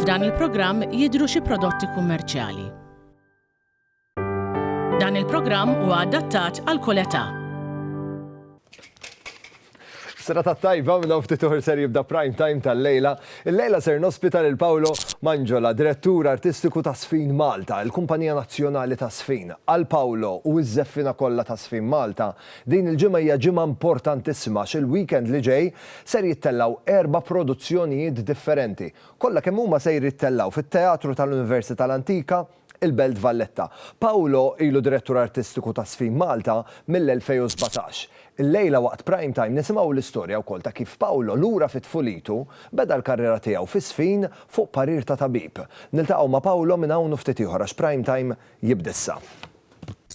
F'dan il-programm jidhru xi prodotti kummerċjali. Dan il-programm huwa adattat għal kull età. Serata tajba minn hawn ftit uħr ser jibda Prime Time tal-lejla. Illejla ser nospita lil Paolo Manjola, Direttur Artistiku ta' Sfin Malta, il-kumpanija nazzjonali ta' Sfin. Għal Paolo u ż-żeffiena kollha ta' Sfin Malta, din il-ġimgħa hija ġimgħa importantissima għax il-weekend li ġej ser jittellgħu erba' produzzjonijiet differenti. Kollha kemm huma sejr jittellgħu fit-Teatru tal-Università l-Antika, il-Belt Valletta. Paolo ilu Direttur Artistiku ta' Sfin Malta mill-2017. Illejla waqt Prime Time nisimgħu l-istorja wkoll ta' kif Paolo lura fi tfulitu beda l-karriera tiegħu fi Sfin fuq parir ta' tabib. Niltaqgħu ma' Paolo minn hawn u ftit ieħor għax Prime Time jibda issa.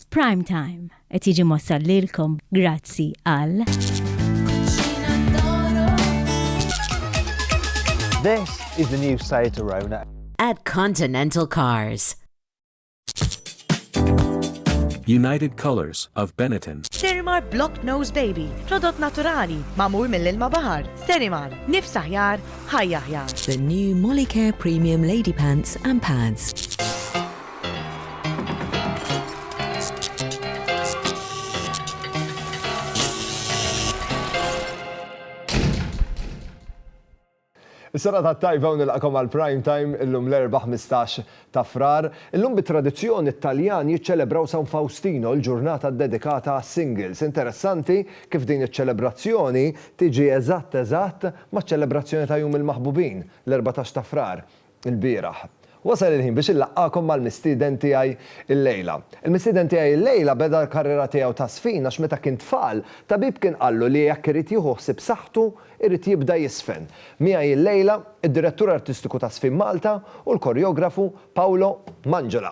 Prime Time qed jiġi mossal lilkom grazzi għal. This is the new Seat Arona. At Continental Cars. United Colors of Benetton. Sterimar Block Nose Baby, prodott naturali, mamur mill-ilma bahar. Sterimar, nifs aħjar, ħajja aħjar. The new Molicare Premium Lady Pants and Pads. Is-sena tat-tajba u nilqakom għal Prime Time illum l-Erbgħa 15 ta' Frar. Illum bit-tradizzjoni t-Taljan jiċċelebraw San Fawstino, il-ġurnata ddedikata għas-singles. Interessanti kif din iċ-ċelebrazzjoni tiġi eżatt eżatt maċ-ċelebrazzjoni ta' Jum il-Maħbubin, l-erbatax ta' Frar. ilbieraħ. Wasal il-ħin biex inlaqqagħkom mal-mistieden tiegħi llejla. Il-mistieden tiegħi llejla beda l-karriera tiegħu ta' żfin għax meta kien tfal, tabib kien qallu li jekk irid jieħu ħsieb saħħtu, irid jibda jiżfen. Miegħi llejla, id-Direttur Artistiku ta' Żfin Malta u l-Korjografu Paolo Manjola.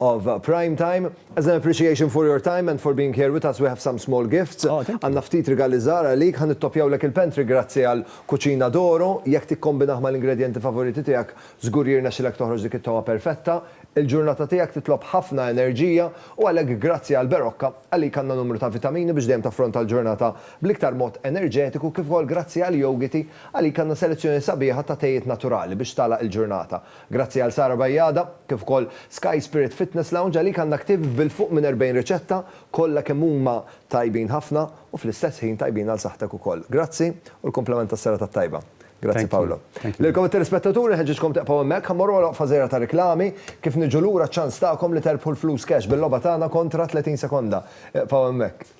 of prime time. As an appreciation for your time and for being here with us we have some small gifts. Oh, thank you. Għandna ftit rigali żgħar għalik, ħa nittoppjawlek il-pantry grazzi għal Cucina d'Oro. Jekk tikkombinah mal-ingredjenti favoriti tiegħek, żgur jirnexxilek toħroġ dik it-togħa perfetta. Il-ġurnata tiegħek titlob ħafna enerġija u għalhekk grazzi għal Berocca, għalik għandna numru ta' vitamini biex dejjem taffronta l-ġurnata bl-iktar mod enerġetiku kif ukoll grazzi għal Yogiti, għalik għandna selezzjoni sabiħa ta' tejiet naturali biex tagħlaq il-ġurnata. Grazzi għal Sara Bajada, kif ukoll Sky Spirit Fitness Lounge għalik għandna ktieb bil-fuq minn 40 riċetta, kollha kemm huma tajbin ħafna u fl-istess ħin tajbin għal saħħtek ukoll. Grazzi u l-kumplament tas-serata t-tajba. Grazzi Paolo. Lilkom it-telespettaturi nħeġġiġkom tibqgħu hemmhekk, ħa mmorru għal waqfa żgħira ta' riklami, kif niġu lura ċ-ċans tagħkom li terbħu l-flus cash bil-logħba tagħna kontra 30 sekonda. Ibqgħu hemmhekk.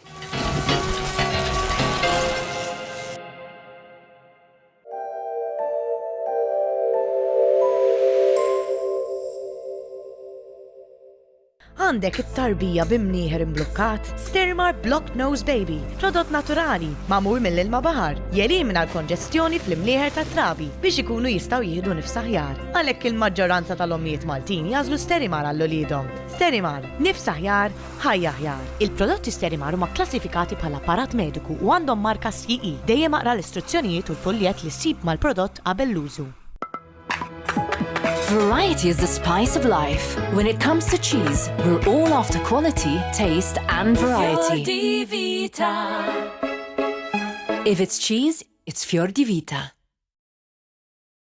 Għandek it-tarbija bi mnieħer imblukkat? Stirmar Blocked Nose Baby, prodott naturali, magħmul mill-ilma baħar, jelimina l-konġestjoni fl-imnieħer tat-trabi biex ikunu jistgħu jieħdu nifs aħjar. Għalhekk il-maġġoranza tal-ommijiet Maltin jagħżlu Sterimar għal uliedhom. Sterimar, nifs aħjar, Ħajja Aħjar, Il-prodotti Sterimar huma kklassifikati bħala apparat mediku u għandhom marka CE. Dejjem aqra l-istruzzjonijiet u l-fuljett li ssib mal-prodott qabel l-użu. Variety is the spice of life. When it comes to cheese, we're all after quality, taste and variety. Fjordivita. If it's cheese, it's Fjordivita.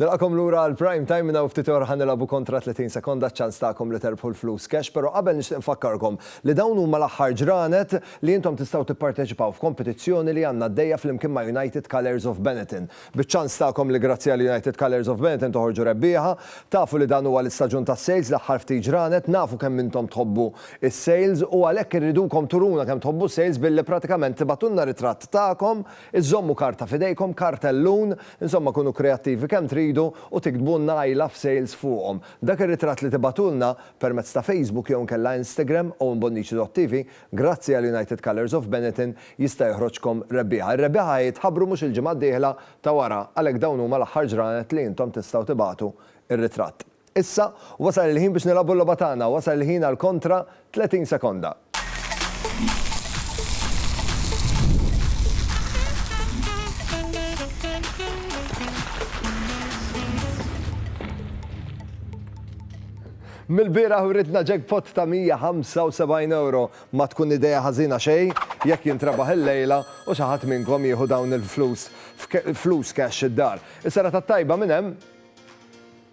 Nilqakom lura għal prime time minna u ftit ora ħanilabu kontra 30 sekonda ċans tagħkom li terbħu l-flus cash, però qabel nixtieq nfakkarkom li dawn huma l-aħħar ġranet li intom tistgħu tipparteċipaw f'kompetizzjoni li għandna għaddejja flimkien ma' United Colours of Benetton. Biċ-ċans tagħkom li grazzi għal United Colours of Benetton toħorġu rebbieħa. Tafu li dan huwa l-istaġun tas-sales, l-aħħar ftit ġranet, nafu kemm intom tħobbu s-sales u għalhekk irridukom turuna kemm tħobbu s-sales billi pratikament tibgħatulna ritratt tagħkom, iżżommu karta f'idejkom, kartellun, insomma kunu kreattivi kemm tridu u tiktbulna I love sales fuqhom. Dak ir-ritratt li tibgħatulna permezz ta' Facebook jew inkella Instagram, owenbonnici.tv, Grazzi għal United Colours of Benetton jista' joħroġkom rebbieħa. Ir-rebbieħa ħa jitħabbru mhux il-ġimgħa d-dieħla ta' wara għalhekk dawn huma l-aħħar ġranet li intom tistgħu tibagħtu r-ritratt. Issa, wasal il-ħin biex nilagħbu l-logħba tagħna, wasal il-ħin għal kontra 30 sekonda. Mill-bieraħ writna jackpot ta' 175 ewro. Ma tkun idea ħażina xejn jekk jintrebaħ illejla u xi ħadd minnkom jieħu dawn il-flus flus cash id-dar. Is-serata t-tajba minn hemm.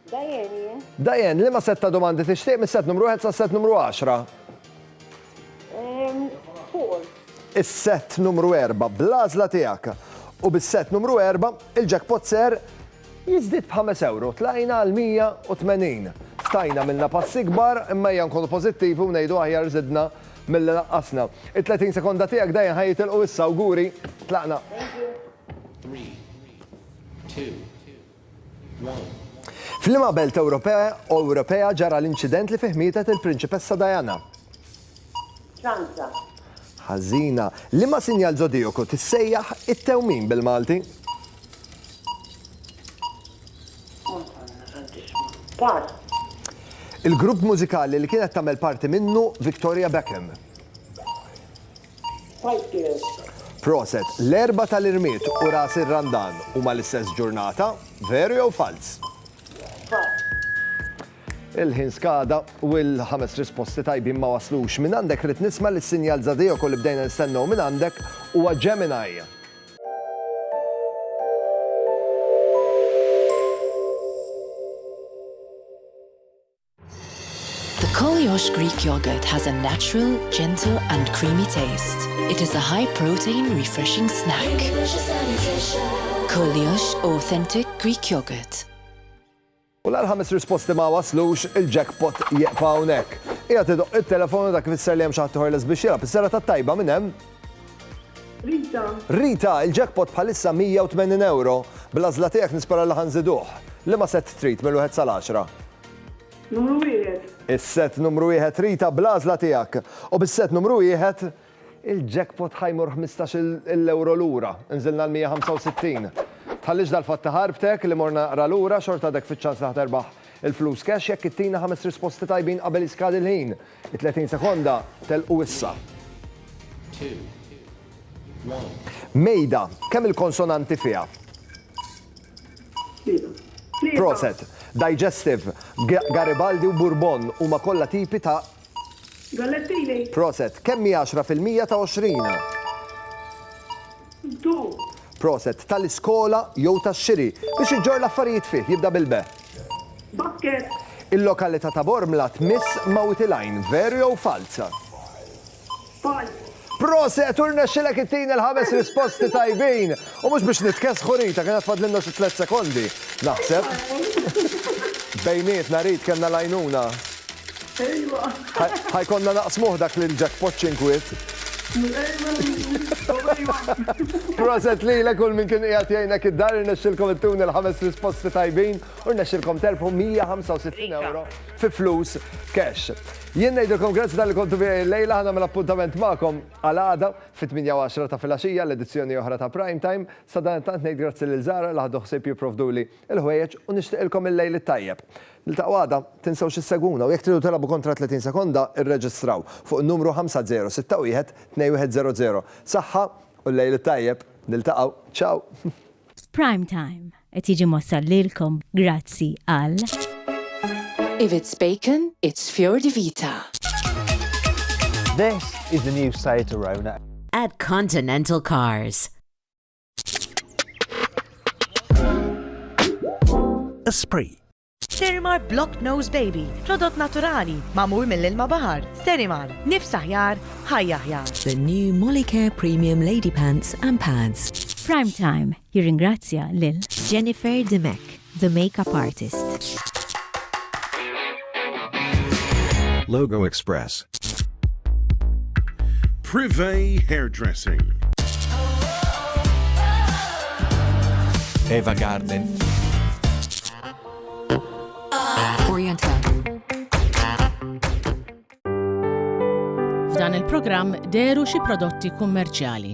Diane jien. Diane, liema sett ta' domandi tixtieq mis-sett numru wieħed sas-sett numru għaxra? Four. Is-sett numru erba' bl-għażla tiegħek. U bis-sett numru erba' il-jackpot ser Jiżdied b'ħames ewro, tlajna għal 180. Stajna għamilna passi kbar, imma ejja nkunu pożittivi u ngħidu aħjar żidna milli naqqasna. It-30 sekonda tiegħek dejja ħa jitilqu issa, awguri, tlaqna. F'liema belt Ewropea ġara l-inċident li fih mietet il-Prinċipessa Diana? ċansa. Ħażina. Liema sinjal żodijaku tissejjaħ it-tewmin bil-Malti? Madonna Santissima. Pass. Il-grupp mużikali li kienet tagħmel parti minnu Victoria Beckham. Spice Girls. Proset, l-erba tal-irmied u ras ir-Randan huma l-istess ġurnata, veru jew falz? Falz. Il-ħin skada u l-ħames risposti tajbin ma waslux. Minn għandek rrid nisma' li s-sinjal żadejoko li bdejna nistennew minn għandek huwa Gemini. The Kolyos Greek yogurt has a natural, gentle and creamy taste. It is a high protein refreshing snack. Kolyos authentic Greek yogurt. U la l-ħames risposti ma waslux, il-jackpot jieqfa hawnhekk. Qiegħed idoqq it-telefon u dak ifisser li hemm xi ħadd ieħor lest biex jilgħab. Is-serata t-tajba minn hemm? Rita. Rita, il-jackpot bħalissa 180 ewro. Bl-għażla tiegħek nispera li ħa nżiduh. Liema sett trid minn wieħed sal-għaxra? Numru wieħed. Is-sett numru wieħed Rita, bl-għażla tiegħek. U bis-sett numru wieħed, Il-jackpot ħa jmur ħmistax il ewro lura. Nżilna għal 165. Tħallix dal-fatt iħarbtek, li mor naqra lura, xorta għadek fiċ-ċans li ħa terbaħ il-flus cash jekk ittina ħames risposti tajbin qabel jiskadi l-ħin. It-30 sekonda telqu issa. Mejda, kemm il-konsonanti fiha? Proset. Digestive, Garibaldi u Bourbon huma kollha tipi ta' Gallettini. Proset. Kemm hi għaxra fil-mija ta' għoxrin? Ddu. Proset. Tal-iskola jew tax-xiri. Biex iġġorr l-affarijiet fih, jibda bil-be. Basket. Il-lokalità ta' Bormla tmiss Mawtilajn. Veru jew falz? Paul. Proset u rnexxilek ittini l-ħames risposti tajbin! U mhux biex nitkessħu Rita, kien għad fadlilna xi tliet sekondi, naħseb. Bejnietna Rit kellna l-għajnuna. Ejwa. Ħa jkollna naqsmuh dak l-jackpot xi nkwiet. Ejwa Rit. Ejwa. Proset lilek u 'l min kien qiegħed jgħinek id-dar, irnexxilkom ittuni l-ħames risposti tajbin u rnexxilkom terbħu 165 ewro fi flus cash. Jien ngħidilkom grazzi talli kontu miegħi llejla, ħa nagħmel appuntament magħkom għal għada fit-tmienja u għaxra ta' filgħaxija l-edizzjoni oħra ta' Prime Time. Sadanittant ngħid grazzi lil Zahra li ħadu ħsieb jipprovduli l-ħwejjeġ u nixtieqilkom il-lejl it-tajjeb. Niltaqgħu għada, tinsewx issegwuna u jekk tridu tilagħbu kontra 30 sekonda irreġistraw fuq in-numru 5061-2100. Saħħa u l-lejl it-tajjeb. Niltaqgħu. Ciao! F'Prime Time. Qed jiġi mwassal lilkom grazzi għal. If it's bacon, it's Fior di Vita. This is the new Seat Arona. At Continental Cars. Esprit. Sterimar Blocked Nose Baby, prodott naturali, magħmul mill-ilma baħar. Sterimar, nifs aħjar, ħajja aħjar. The new Molicare Premium Lady Pants and Pads. Prime Time jirringrazzja lil Jennifer Dimech, the makeup artist. Logo Express. Privé Hairdressing. Eva Garden. F'dan il-programm dehru xi prodotti kummerċjali.